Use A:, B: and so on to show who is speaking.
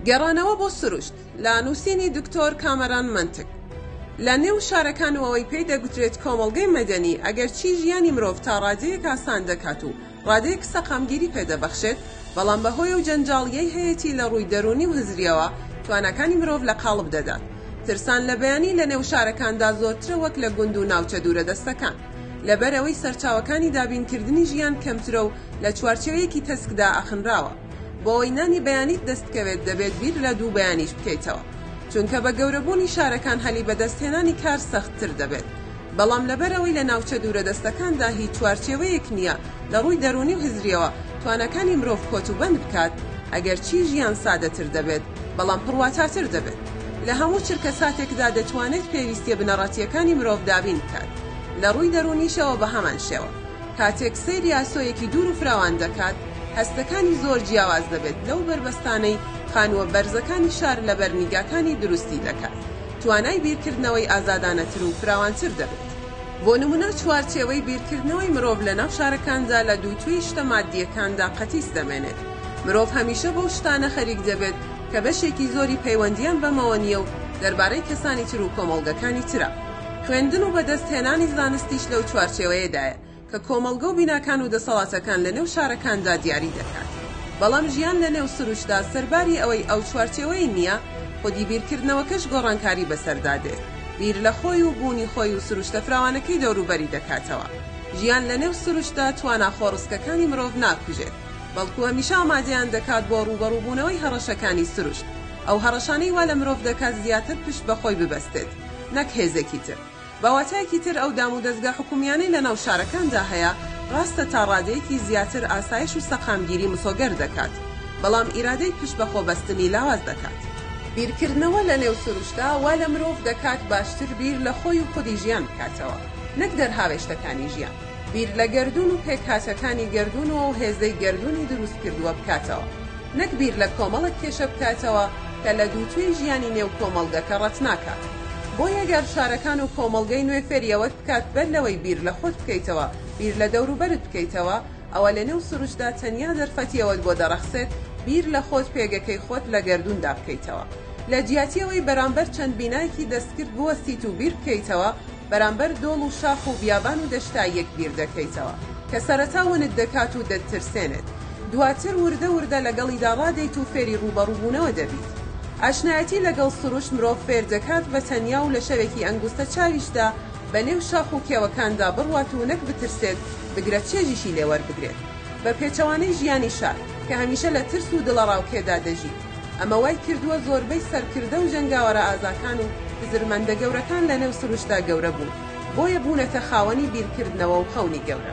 A: گەڕانەوە بۆ سروشت لە نووسینی دکتۆر کامەران مەنتک لە نێو شارەکان و ئەوەی پێی دەگوترێت کۆمەڵگەی مەدەنی ئەگەرچی ژیانی مرۆڤ تا ڕادەیەک ئاسان دەکات و ڕادەیەک سەقامگیری پێدەبەخشێت بەڵام بە هۆی و جەنجاڵیەی هەیەی لە ڕووی دەرونی و هزریەوە تواناکانی مرۆڤ لە قاڵب دەدات ترسان لە بیانی لە نێو شارەکاندا زۆرترە وەک لە گوند و ناوچە دوورە دەستەکان. لەبەر ئەوەی سەرچاوەکانی دابینکردنی ژیان کەمترە و لە چوارچێوەیەکی تەسکدا ئەخنراوە. بۆ ئەوەی نانی بەیانیت دەستبکەوێت دەبێت بیر لە دوو بەیانیش بکەیتەوە. چونکە بە گەورەبوونی شارەکان هەلی بەدەستهێنانی کار سەختتر دەبێت. بەڵام لەبەر ئەوەی لە ناوچە دوورەدەستەکاندا هیچ چوارچێوەیەک نییە لە ڕووی دەروونی و هزرییەوە تواناکانی مرۆڤ کۆتوبەند بکات، ئەگەرچی ژیان سادەتر دەبێت بەڵام پڕواتاتر دەبێت. لە هەموو چرکەساتێکدا دەتوانێت پێویستییە بنەڕەتییەکانی مرۆڤ دابین بکات. لە ڕووی دەروونیشەوە بە هەمان شێوە. کاتێک سەیری ئاسۆیەکی دوور و فراوان دەکات، هەستەکانی زۆر جیاواز دەبێت لەو بەربەستانەی خانووە بەرزەکانی شار لەبەر نیگاکانی دروستی دەکات، توانای بیرکردنەوەی ئازادانەتر و فراوانتر دەبێت. بۆ نموونە چوارچێوەی بیرکردنەوەی مرۆڤ لەناو شارەکاندا لە دووتوێی شتە ماددییەکاندا قەتیس دەمێنێت. مرۆڤ هەمیشە بەو شتانە خەریک دەبێت کە بەشێکی زۆری پەیوەندییان بەمەوە نییە و دەربارەی کەسانی تر و کۆمەڵگەکانی ترە. خوێندن و بەدەستهێنانی زانستیش لەو چوارچێوەیەدایە کە کۆمەڵگە و بیناکان و دەسەڵاتەکان لەنێو شارەکاندا دیاری دەکات. بەڵام ژیان لەنێو سروشتدا سەرباری ئەوەی ئەو چوارچێوەی نییە، خودی بیرکردنەوەکەش گۆڕانکاری بەسەردا دێت، بیر لە خۆی و بوونی خۆی و سروشتە فراوانەکەی دەوروبەری دەکاتەوە. ژیان لەنێو سروشتدا توانا خۆڕسکەکانی مرۆڤ ناکوژێت، بەڵکو هەمیشە ئامادەیان دەکات بۆ ڕووبەڕووبوونەوەی هەڕەشەکانی سروشت، ئەو هەڕەشانەی وا لە مرۆڤ دەکات زیاتر پشت بە خۆی ببەستێت. نەک هێزێکی تر. بە واتایەکی تر ئەو دام و دەزگا حکوومییانەی لە ناو شارەکاندا هەیە، ڕاستە تا ڕادەیەکی زیاتر ئاسایش و سەقامگیری مسۆگەر دەکات، بەڵام ئیرادەی پشت بە خۆ بەستنی لاواز دەکات. بیرکردنەوە لە نێو سروشتدا وا لە مرۆڤ دەکات باشتر بیر لە خۆی و خودی ژیان بکاتەوە، نەک دەرهاوێشتەکانی ژیان. بیر لە گەردوون و پێکهاتەکانی گەردوون و ئەو هێزەی گەردوونی دروست کردووە بکاتەوە، نەک بیر لە کۆمەڵێک کێشە بکاتەوە کە لە دووتوێی ژیانی نێو کۆمەڵگەکە ڕەتناکات. بۆیە گەر شارەکان و کۆمەڵگەی نوێ فێری ئەوەت بکات بەر لەوەی بیر لە خۆت بکەیتەوە بیر لە دەوروبەرت بکەیتەوە، ئەوە لە نێو سروشتدا تەنیا دەرفەتی ئەوەت بۆ دەڕەخسێت بیر لە خۆت پێگەکەی خۆت لە گەردووندا بکەیتەوە. لە جیاتی ئەوەی بەرامبەر چەند بینایەکی دەستکرد بوەستیت و بیر بکەیتەوە، بەرامبەر دۆڵ و شاخ و بیابان و دەشتا یەک بیر دەکەیتەوە کە سەرەتا ونت دەکات و دەتترسێنێت دواتر وردە وردە لەگەڵیدا ڕادێیت و فێری ڕووبەڕووبوونەوە دەبیت ئاشنایەتی لەگەڵ سروشت مرۆڤ فێر دەکات بە تەنیا و لە شەوێکی ئەنگوستە چاویشدا بە نێو شاخ و کێوەکاندا بڕوات و نەک بترسێت بگرە چێژیشی لێ وەربگرێت بە پێچەوانەی ژیانی شار کە هەمیشە لە ترس و دڵەڕاوکێدا دەژیت. ئەمە وای کردووە زۆربەی سەرکردە و جەنگاوەرە ئازاکان و هزرمەندە گەورەکان لەنێو سروشتدا گەورە بوون، بۆیە بوونەتە خاوەنی بیرکردنەوە و خەونی گەورە.